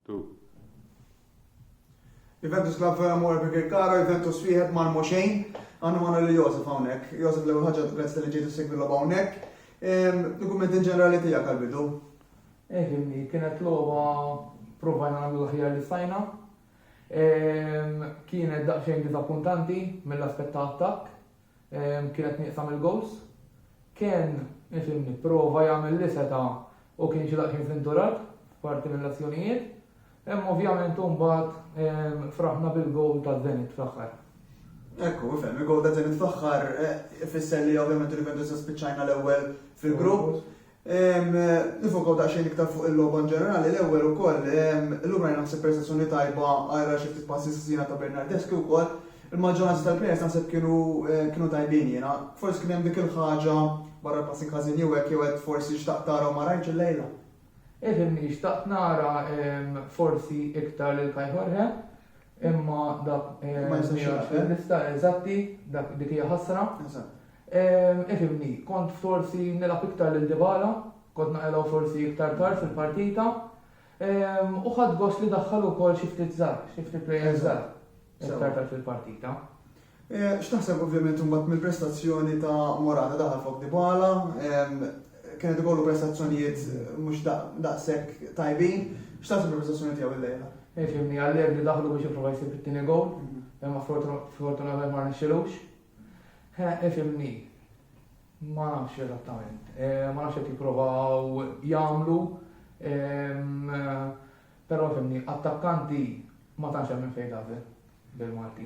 2. Juventus Club Fermo Abigail Caro, Juventus wieħed Malmo xejn. Għandu magħna li Josef hawnhekk. Josef l-ewwel ħaġa grazzi tal-li ġejtu segwi logħba hawnhekk. Dokument in ġenerali tiegħek għal-bidu. Eh, kienet logħba provajna nagħmlu l-aħjar li stajna. Kienet daqsxejn diżappuntanti mill-aspett ta' attakk Kienet nieqsa mill-gowls. Ken isem jipprova jagħmel li seta' u kien xi daqsxejn fl-inturat f'parti mill-azzjonijiet. Imma ovvjament u mbagħad fraħna bil-gowl ta' Zenit fl-aħħar. Ekku, ifhem, il-gowl ta' Zenit fl-aħħar ifisser li ovvjament il-Juventus spiċċajna l-ewwel fil-grupp. Nifokaw daqsxejn iktar fuq il-logħba in ġenerali, l-ewwel ukoll, illum rajna naħseb prestazzjoni tajba għajr għal xi ftit passi sħżiena ta' Bernardeschi wkoll. Il-maġġoranza tal-players naħseb kienu kienu tajbin jiena. Forsi kien hemm dik il-ħaġa, barra l-passing ħażin jew hekk jew hekk forsi xtaqt tara u ma rajtx illejla. Edin xtaqt nara forsi iktar lil Kai Jorge. Imma dak mhijiex fil-lista, eżatti, dik hija ħasra. Ifhimni, kont forsi nilgħab iktar lil Dybala, kont naqilgħu forsi iktar tard fil-partita, u ħadt gost li daħħal ukoll xi ftit żgħar, xi ftit players żgħar iktar tard fil-partita. X'taħseb ovvjament imbagħad mill-prestazzjoni ta' Morata? Daħal fuq Dybala, kien qed ikollu prestazzjonijiet mhux daqshekk tajbin. X'taħseb mill-prestazzjoni tiegħu llejla? Fimni, Allegri daħlu biex jipprova jsib it-tieni gowl, imma sfortunatament ma rnexxielux. Fimni, ma nafx eżattament. Ma nafx qed jipprovaw jagħmlu, però fimni, attakkanti ma tantx hemm minn fejn tagħżel bil-Malti.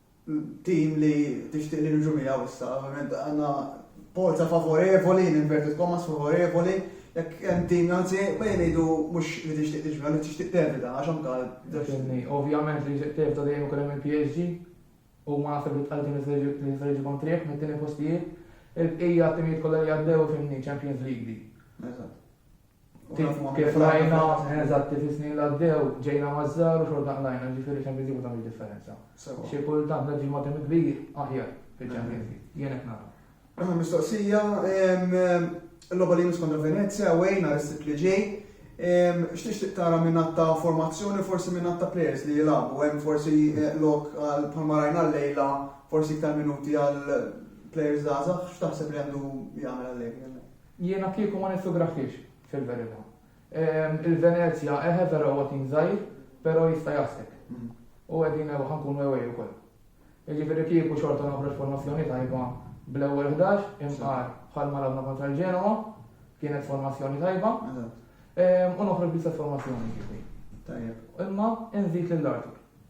Tim li tixtieq li niġu miegħu issa, ovvjament għandna polza favorevoli, in inverted commas favorevoli, jekk hemm tim anzi bejn ngħidu mhux li tixtieq tiġi miegħu li tixtieq tevita għax anke Ovvjament li tixtieq tevita dejjem ikun hemm il-PSG u ma naħseb li tqal tim li se jiġi kontrieh mit-tieni postijiet. Il-bqija timijiet kollha li għaddew fimni Champions League di. Eżatt. Kif rajna, eżatt, kif is-snin li għaddew, ġejna maż-żgħar u xorta qlajna, ġifieri Champions League ma tagħmilx differenza. Xi kultant neġġi' ma' tim kbir aħjar fil-Champions League. Jien hekk nara. Mistoqsija, il-logħba li jmiss kontra Venezia, away, nhar is-Sibt li ġej. X'tixtieq tara minn għadd ta' formazzjoni, forsi minn għadd ta' players li jilagħbu? Hemm forsi lok għal bħalma rajna llejla, forsi iktar minuti għal players żgħażagħ? X'taħseb li għandu jagħmel Allegri? Jiena kieku ma niffugrafhiex, fil-verità. Il-Venezja, eħe vera huwa tim żgħir, però jista' jgħassek. U qegħdin ħa nkunu away ukoll. Jiġifieri kieku xorta noħroġ formazzjoni tajba bl-ewwel ħdax, imqar bħalma lagħbna kontra l-Genoa, kienet formazzjoni tajba. U noħroġ bl-istess formazzjoni kieku. Tajjeb. Imma nżid lill-Artur.